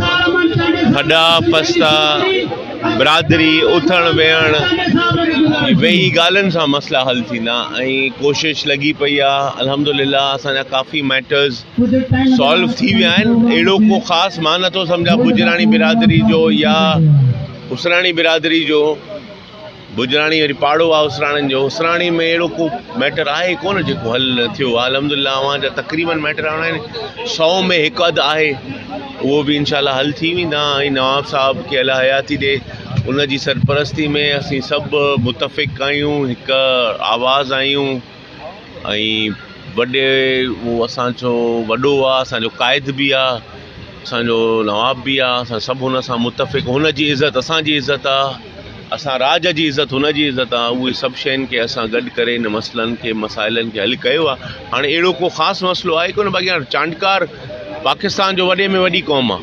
ٺڏا پستا برادري اٿڻ ويهڻ ويهي ڳالهين سان مسئلا حل ٿيندا ۽ ڪوشش لڳي پئي آهي الحمدلله اسانجا ڪافي ميٽرز سالو ٿي ويا آهن اهڙو ڪو خاص مان نٿو سمجهان گجراڻي برادري جو يا اسراڻي برادري جو گجراڻي وري پاڙو آ اسراڻين جو اسراڻي ۾ اهڙو ڪو ميٽر آهي ئي ڪونه جيڪو حل نه ٿيو آ الحمدلله اوهان جا تقريبن ميٽر هاڻي سو ۾ هڪ اڌ آهي اهو به انشاء الله حل ٿي ويندا ۽ نواب صاحب کي الله حياتي ڏي ان جي سرپرستي ۾ اسين سڀ متفق آهيون هڪ آواز آهيون ۽ وڏي هو اسان جو وڏو آ اسان جو قائد به آ اسان جو نواب به آ اسان سڀ هن سان متفق هن جي عزت اسان جي عزت آ اسان راڄ جي عزت هن جي عزت آ اهي سڀ شين کي اسان گڏ ڪري هن مسئلن کي مسائلن کي حل ڪيو آ هاڻي اهڙو ڪو خاص مسئلو آهي ڪونه باقي هاڻي چانڊڪار پاڪستان جو وڏي ۾ وڏي قوم آ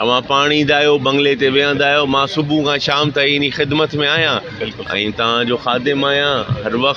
اوهان پاڻ ايندا آهيو، بنگلي تي ويهندا آهيو، مان صبح کان شام تائين انهي خدمت ۾ آهيان ۽ توهان جو خادم آهيان، هر وقت.